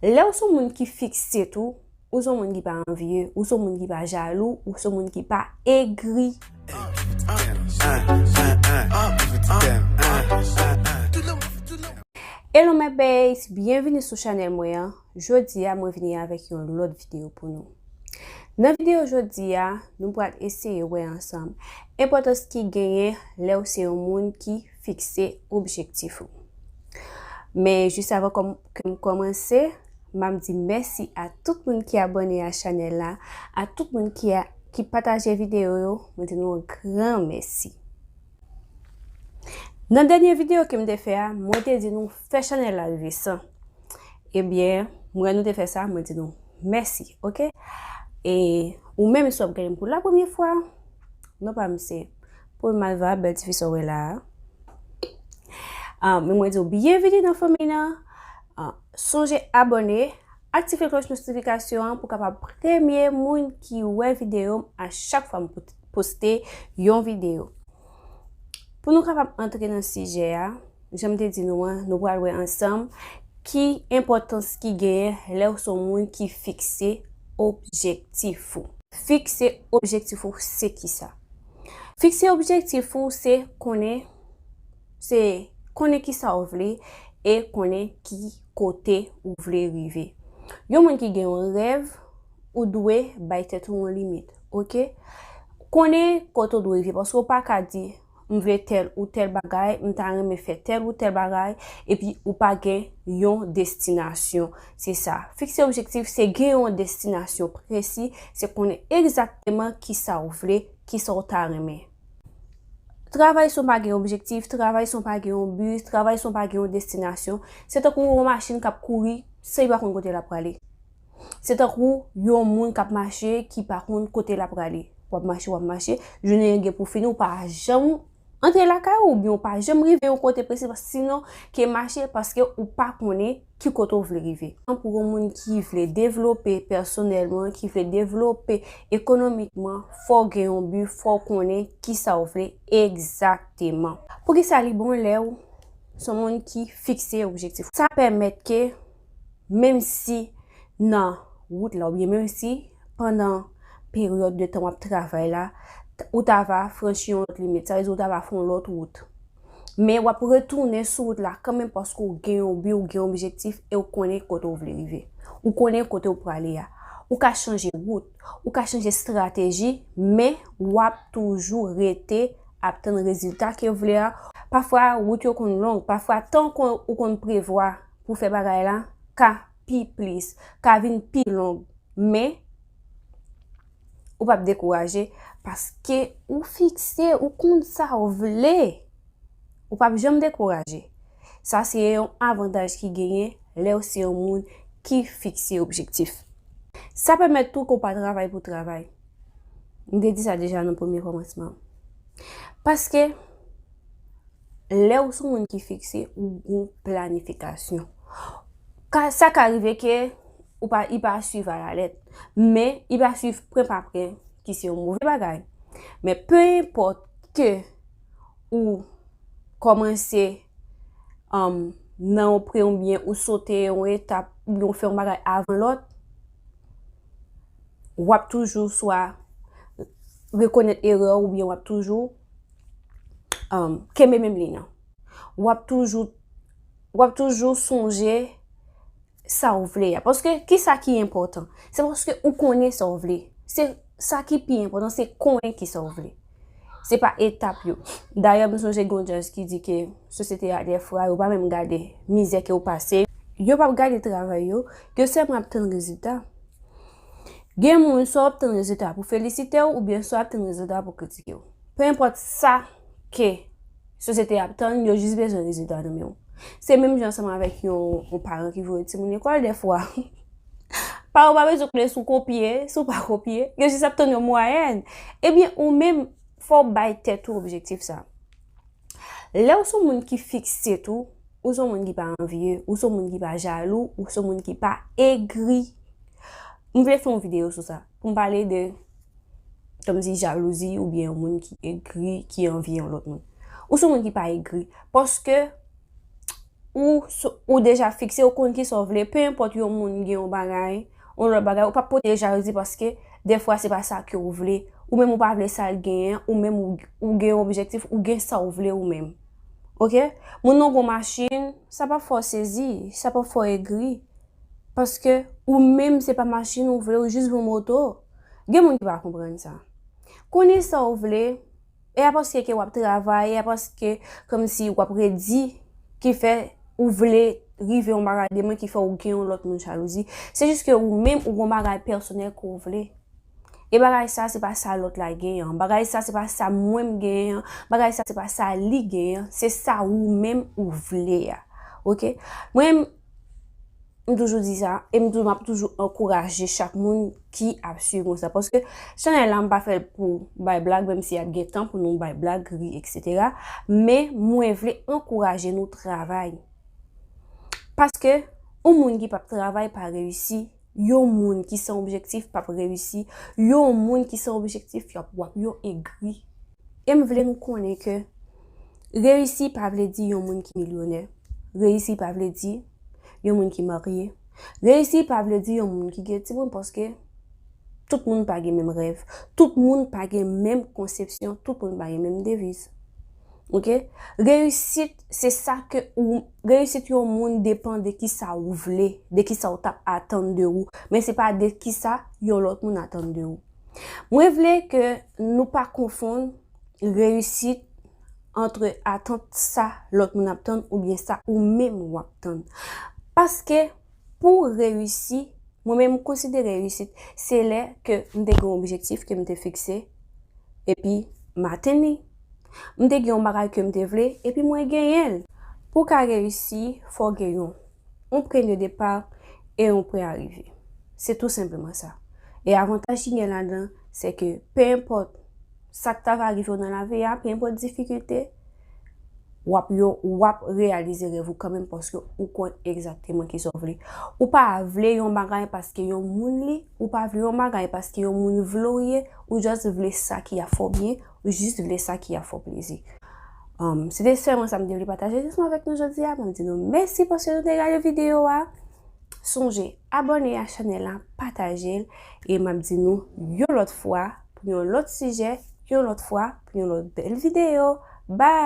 Lè ou son moun ki fikse tou, ou son moun ki pa anvye, ou son moun ki pa jalou, ou son moun ki pa egri. Hello my babes, byenvini sou chanel mwen an. Jodi a mwen vini avèk yon lòt videyo pou nou. Nan videyo jodi a, nou pral eseye wè ansanm enpòtans ki genyen lè ou se yon moun ki Fikse objektif ou. Men jis avan kòm ke m kòmanse, m ap di mèsi a tout moun ki abòne a chanèl la, a tout moun ki a ki pataje videyo yo, mwen di nou yon gran mèsi. Nan dènye videyo ke m te fè a, mwen te di nou fè chanèl la rive 100. Ebyen, m wè nou te fè sa, mwen di nou mèsi, ok. E ou menm si w ap gade m pou la premye fwa, non pa m se Pou Malva, bèl tifi sa w wè la a. An, men mwen di w byenvini nan fanmi nan. An, sonje abòne, aktive klòch notifikasyon an pou kapab premye moun ki wè videyo m a chak fwa m poste yon videyo. Pou nou kapab antre nan sijè a, jan m te di nou an, nou pral wè ansanm ki enpòtans ki genyen lè w son moun ki fikse objektif ou. Fikse objektif ou se kisa? Fikse objektif ou se konnen se konnen ki sa ou vle e konnen ki kote ou vle rive. Yon moun ki gen yon rèv, ou dwe bay tèt ou yon limit, ok? Konnen kote ou dwe rive, paske ou pa ka di, m vle tèl ou tèl bagay, m ta renmen fè tèl ou tèl bagay, epi ou pa gen yon destinasyon. Se sa, fikse objektif se gen yon destinasyon presi, se konnen egzakteman ki sa w vle, ki sa w ta renmen. Travay san w pa gen objektif, travay san w pa gen yon bi, travay san w pa gen yon destinasyon, se tankou yon machin k ap kouri san li pa konn kote l ap prale. Se tankou yon moun k ap mache ki pa konn kote l ap prale. W ap mache, w ap mache, jounen an gen pou fini ou pa janm antre lakay ou oubyen ou pa janm rive yon kote presi paske sinon ke mache paske ou pa konnen ki kote ou vle rive. Pou yon moun ki vle devlope pèsonèlman, ki vle devlope ekonomikman, fò w gen yon bi, fò w konnen ki sa w vle egzakteman. Pou ki sa li bon lè ou se yon moun ki fikse objektif? Sa pèmèt ke menm si nan wout la oubyen menm si pandan peryòd de tan w ap travay la, ou ta va franchi yon lòt limit, sa vle di ou ta va fè yon lòt wout. Men wap retounen sou wout la kanmenm paske ou gen yon bi, ou gen yon objektif e ou konnen kote ou vle rive. Ou konnen kote ou prale a. Ou ka chanje wout, ou ka chanje strateji men wap toujou rete ap tann rezilta ke ou vle a. Pafwa wout yo konn long, pafwa tan ke ou konn prevwa pou fè bagay la ka pi plis, ka vin pi long men. Ou pap dekouraje paske ou fikse, ou konn sa ou vle. Ou pap janm dekouraje. Sa se yon avantaj ki genyen lè ou se yon moun ki fikse objektif. Sa pèmèt tou ke ou pa travay pou travay. M te di sa deja nan premye kòmansman an. Paske, lè ou se yon moun ki fikse, ou gen planifikasyon. Sa ka rive ke Ou pa i pa swiv a la lèt. Men, i pa swiv pren pa pren ki se yon move bagay. Men, pe enpòt ke ou kòmanse nan yon pre yon byen ou sote yon etap ou byen ou fè yon bagay avan lòt, w ap toujou swa rekonèt erè ou byen w ap toujou kenbe menm liy nan. W ap toujou sonje sa ou vle a. Paske ki sa ki enpòtan? Se paske ou konnen sa ou vle. Se sa ki pi enpòtan, se konnen ki sa ou vle. Se pa etap yo. Dayè m sonje gen yon djaz ki di ke sosyete a dèfwa yo pa menm gade mizè ke ou pase. Yo pap gade travay yo. Yo sèlman ap tann rezilta. Gen moun swa wap tann rezilta pou felisite ou oubyen swa wap tann rezilta pou kritike ou. Pe enpòt sa ke Sosyete a ap tann, yo jis bezwen rezilta nan men w. Se menm jan ansanm avèk yon paran ki voye timoun lekòl dèfwa. Paran w pa bezwen konnen si w kopye, si w pa kopye, yo jis ap tann yon mwayèn. Ebyen ou menm, fò w bay tèt ou objektif sa. Lè w son moun ki fikse tou, ou son moun ki pa anvye, ou son moun ki pa jalou, ou son moun ki pa egri. M vle fè yon videyo sou sa. Pou m pale de, kòm si jalouzi oubyen yon moun ki egri, ki anvi yon lòt moun. Ou se yon moun ki pa egri, paske ou, ou deja fikse, ou konn kisa w vle, pe enpòt yon moun gen yon bagay, yon lòt bagay, ou pa p pote jalouzi paske dèfwa se pa sa ke w vle, ou menm ou pa vle sa l genyen, ou menm ou gen yon objektif, ou gen sa w vle ou menm. Ok? Moun nan gen yon machin, sa pa p fè w sezi, sa pa p fè w egri. Paske ou menm se pa machin ou vle ou jis von moto. Gen moun ki pa konprann sa. Konnen sa ou vle e a paske ke wap travay e a paske kòm si wap redi ki fè ou vle rive yon bagay demen ki fè ou gen yon lòt moun jalouzi. Se jis ke ou menm ou gon bagay pèsonèl ke ou vle. E bagay sa se pa sa lòt la gen an. Bagay sa se pa sa mwen m gen an. Bagay sa se pa sa li gen an. Se sa ou menm ou vle a. Ok. Mwen. M toujou di sa, e m toujou, m ap toujou ankouraje chak moun ki ap swiv mwen sa. Paske chanèl la m pa fè l pou bay blag, menm si ap gen tan pou nou bay blag, ri, eksetera. Men mwen vle ankouraje nou travay. Paske yon moun ki pap travay pa reyisi. Yon moun ki san objektif p ap reyisi, yon moun ki san objektif y ap wap yo egri. E m vle nou konnen ke reyisi pa vle di yon moun ki milyonè, reyisi pa vle di yon moun ki marye, reyisi pa vle di yon moun ki gen timoun paske tout moun pa gen menm rèv, tout moun pa gen menm konsepsyon, tout moun pa gen menm deviz. Ok, reyisit se sa ke ou Reyisit yon moun depan de kisa ou vle, de kisa ou tap atann de ou, men se pa de kisa yon lòt moun atann de ou. Mwen vle ke nou pa konfonn reyisit antre atant sa lòt moun ap tann oubyen sa ou menm wap tann. Paske. Pou reyisi, mwen menm m konsidere reyisit se lè ke m te gen yon objektif ke m te fikse epi m atenn li. M te gen yon bagay ke m te vle epi mwen genyen l. Pou w ka reyisi, fò w gen yon yon pwen de depa e yon pwen arive. Se tou senpleman sa. E avantaj ki gen ladan, se ke penenpòt sa k ta va rive w nan lavi a, penenpòt difikilte, wap yon wap reyalize rèv ou kanmenm paske ou konn egzakteman ki sa ou vle. Ou pa vle yon bagay paske yon moun li, ou pa vle yon bagay paske yon moun vle ou ye, ou just vle sa ki a fè w byen, ou just vle sa ki a fè w plezi. Se te sèlman sa m te vle pataje jisman avèk nou jodi a, mwen di nou mèsi paske nou te gade videyo a. Sonje abòne a chanèl la, pataje l, e m ap di nou yon lòt fwa. pou yon lòt sijè, yon lòt fwa, pou yon lòt bèl videyo. Bye!